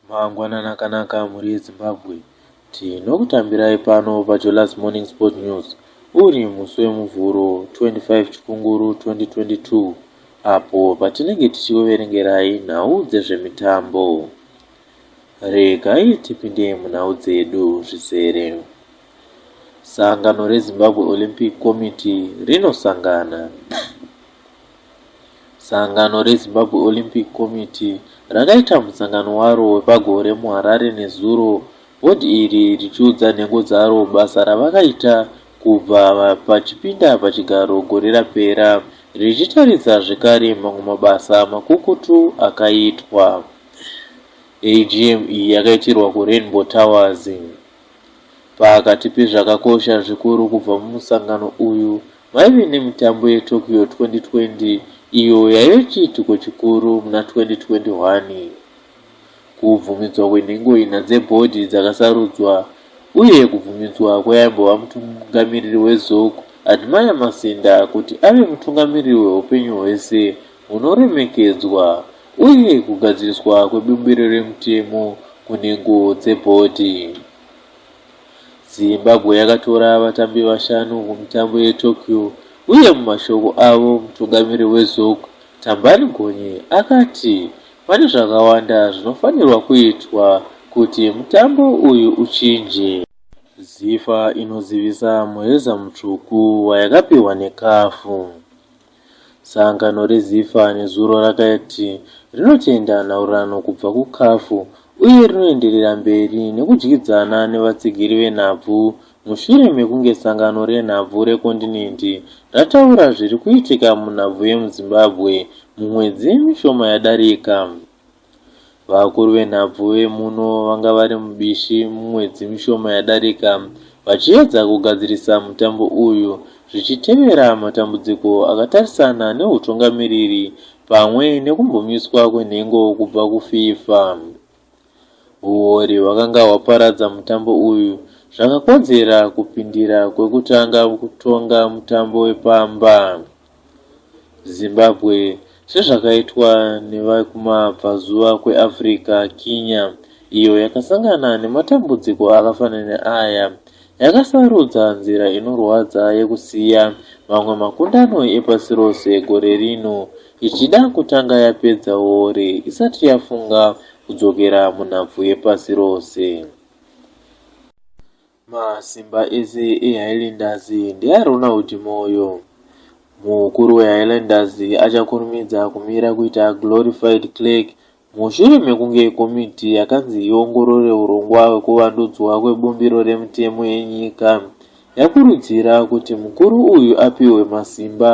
Mangwanani akanaka mhuri yeZimbabwe. Tinokutambirai pano paJolas Morning Sport News uri musi weMuvhuro 25 Chikunguru 2022 apo patinenge tichikuverengerai nhau dzezvemitambo. Regai tipinde munhau dzedu zvizere. Sangano reZimbabwe Olympic Committee rinosangana. Sangano reZimbabwe Olympic Committee rakaita musangano waro wepagore muHarare nezuro, bhodhi iri richiudza nhengo dzaro basa ravakaita kubva pachipinda pachigaro gore rapera, richitaridza zvekare mamwe mabasa makukutu akaitwa. AGM iyi yakaitirwa kuRainbow Towers. Pakati pezvakakosha zvikuru kubva mumusangano uyu, Vaive nemitambo yeTokyo 2020 iyo yaive chiitiko chikuru muna 2021. Kubvumidzwa kwenhengo ina dzebhodhi dzakasarudzwa uye kubvumidzwa kweaimbova mutungamiriri weZOC, Admire Masinda, kuti ave mutungamiriri wehupenyu hwese hunoremekedzwa uye kugadziriswa kwebumbiro remutemo kunhengo dzebhodhi. Zimbabwe yakatora vatambi vashanu mumitambo yeTokyo uye mumashoko avo mutungamiri weZOC, Thambani Gonye, akati pane zvakawanda zvinofanirwa kuitwa kuti mutambo uyu uchinje. Zifa inozivisa muheza mutsvuku wayakapihwa neCAF. Sangano reZifa nezuro rakati rinotenda nhaurirano kubva kuCAF uye rinoenderera mberi nekudyidzana nevatsigiri venhabvu mushure mekunge sangano renhabvu rekondinendi rataura zviri kuitika munhabvu yemuZimbabwe mumwedzi mishoma yadarika. Vakuru venhabvu vemuno vanga vari mubishi mumwedzi mishoma yadarika vachiedza kugadzirisa mutambo uyu zvichitevera matambudziko akatarisana nehutungamiriri pamwe nekumbomiswa kwenhengo kubva kuFIFA. Huwori hwakanga hwaparadza mutambo uyu zvakakodzera kupindira kwekutanga kutonga mutambo wepamba. Zimbabwe, sezvakaitwa nevekumabvazuva kweAfrica, Kenya, iyo yakasangana nematambudziko akafanana neaya, yakasarudza nzira inorwadza yekusiya mamwe makundano epasi rose gore rino ichida kutanga yapedza wore isati yafunga kudzokera munhabvu yepasi rose. Masimba ese eHighlanders ndeaRonald Moyo. Mukuru weHighlanders achakurumidza kumira kuita glorified clerk mushure mekunge komiti yakanzi iongorore hurongwa hwekuvandudzwa kwebumbiro remutemo yenyika yakurudzira kuti mukuru uyu apihwe masimba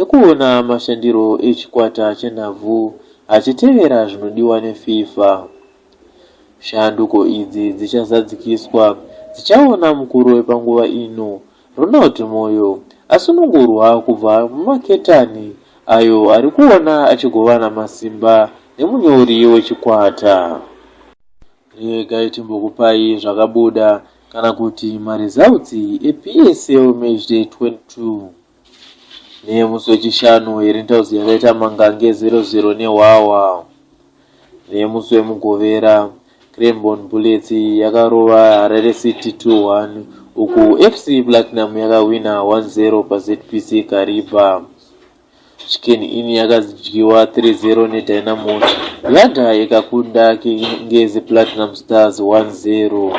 ekuona mashandiro echikwata chenhabvu achitevera zvinodiwa neFIFA. Shanduko idzi dzichazadzikiswa, dzichaona mukuru wepanguva ino, Ronald Moyo, asunungurwa kubva mumaketani ayo ari kuona achigovana masimba nemunyori wechikwata. Regai timbokupai zvakabuda kana kuti maresults ePSL Matchday 22. neyemusi wechishanu iri ntauzi yakaita mangange 00 nehwahwa neyemusi wemugovera cranbon bullets yakarova harare city 21 uku fc platinum yakahwina 10 pazpc kariba chicken in yakadyiwa 30 nedynamos yadha ikakunda kingezi platinum stars 10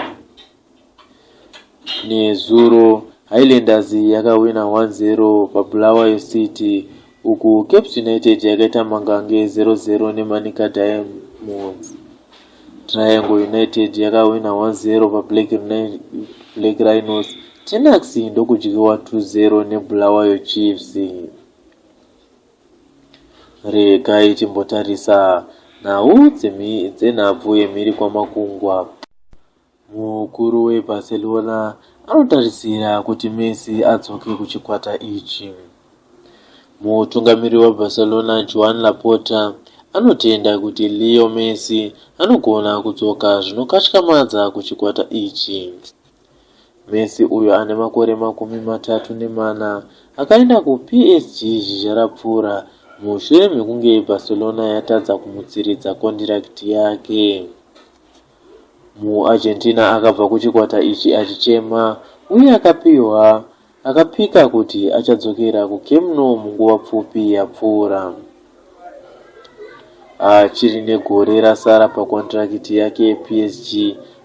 Nezuro, Highlanders yakawina 1-0 paBulawayo City uku Caps United yakaita mangange 0-0 neManica Diamonds. Triangle United yakawina 1-0 paBlack Rhinos, Tenax ndokudyiwa 2-0 neBulawayo Chiefs. Regai timbotarisa nhau dzenhabvu yemhiri kwamakungwa. Mukuru weBarcelona anotarisira kuti Messi adzoke kuchikwata ichi. Mutungamiriri weBarcelona Joan Laporta anotenda kuti Leo Messi anogona kudzoka zvinokatyamadza kuchikwata ichi. Messi uyo ane makore makumi matatu nemana akaenda kuPSG zhizha rapfuura mushure mekunge Barcelona yatadza kumutsiridza kondirakiti yake. MuArgentina akabva kuchikwata ichi achichema uye akapihwa akapika kuti achadzokera kuCamp Nou munguva pfupi yapfuura. Achiri negore rasara pakondirakiti yake yePSG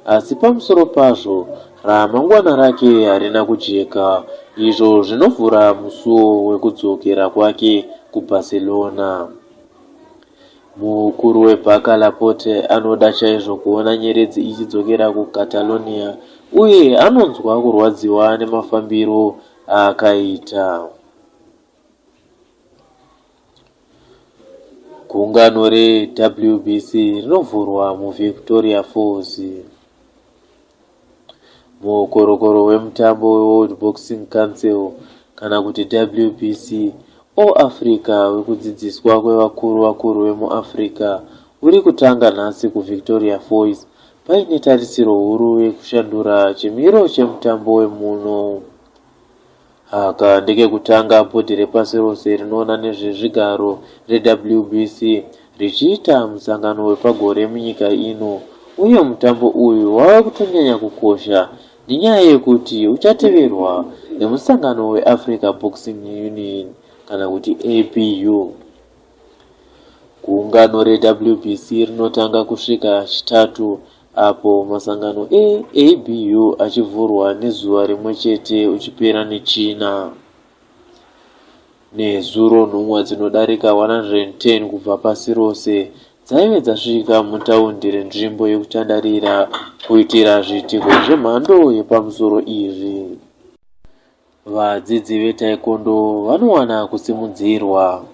asi pamusoro pazvo ramangwana rake harina kujeka izvo zvinovhura musuwo wekudzokera kwake kuBarcelona. Mukuru webhaka Laporte anoda chaizvo kuona nyeredzi ichidzokera kuCatalonia uye anonzwa kurwadziwa nemafambiro aakaita. Gungano reWBC rinovhurwa muVictoria Falls. muokorokoro wemutambo weWorld Boxing Council kana kuti WBC All Africa wekudzidziswa kwevakuru vakuru vemuAfrica uri kutanga nhasi kuVictoria Foys paine tarisiro huru yekushandura chimiro chemutambo wemuno. Aka ndekekutanga bhodhi repasi rose rinoona nezvezvigaro, reWBC, richiita musangano wepagore munyika ino uye mutambo uyu wava kutonyanya kukosha nenyaya yekuti uchateverwa nemusangano weAfrica Boxing Union kana kuti ABU. Gungano reWBC rinotanga kusvika Chitatu Apo masangano eABU achivhurwa nezuva rimwe chete uchipera neChina, nezuro nhumwa dzinodarika 110 kubva pasi rose dzaive dzasvika mutaundi renzvimbo yekutandarira kuitira zviitiko zvemhando yepamusoro izvi. Vadzidzi veTaekwondo vanowana kusimudzirwa.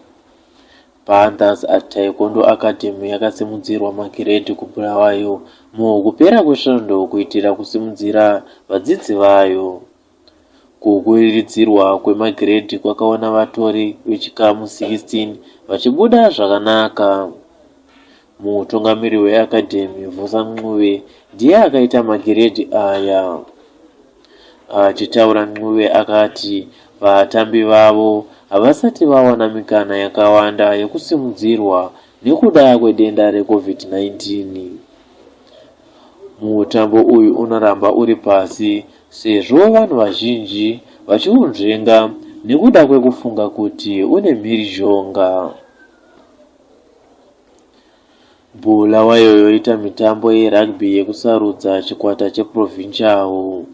Panthers at Taekwondo Academy yakasimudzirwa magiredhi kuBulawayo mukupera kwesvondo kuitira kusimudzira vadzidzi vayo. Kukwiridzirwa kwemagiredhi kwakaona vatori vechikamu 16 vachibuda zvakanaka. Mutungamiri weAcademy, Vusa Ncube, ndiye akaita magiredhi aya. Achitaura Ncube akati vatambi vavo havasati vawana mikana yakawanda yekusimudzirwa nekuda kwedenda reCovid-19. Mutambo uyu unoramba uri pasi sezvo vanhu vazhinji vachiunzvenga nekuda kwekufunga kuti une mhirizhonga. Bulawayo yoita mitambo yerugby yekusarudza chikwata cheProvincial.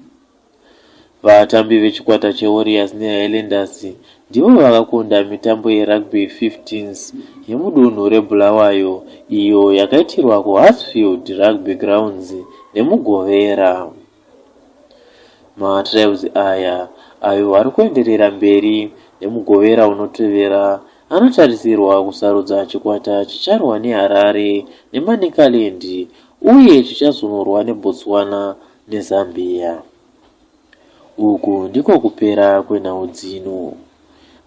Vatambi vechikwata cheWarriors neHighlanders ndivo vakakunda mitambo yerugby 15s yemudunhu reBulawayo iyo yakaitirwa kuHarsfield Rugby Grounds neMugovera. Matrials aya, ayo ari kuenderera mberi neMugovera unotevera, anotarisirwa kusarudza chikwata chicharwa neHarare neManicaland uye chichazonorwa neBotswana neZambia. Uku ndiko kupera kwenhau dzino.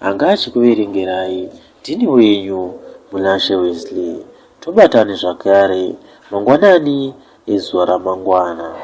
Anga achikuverengerai ndini wenyu Munashe Wesley. Tobatane zvakare mangwanani ezuva ramangwana.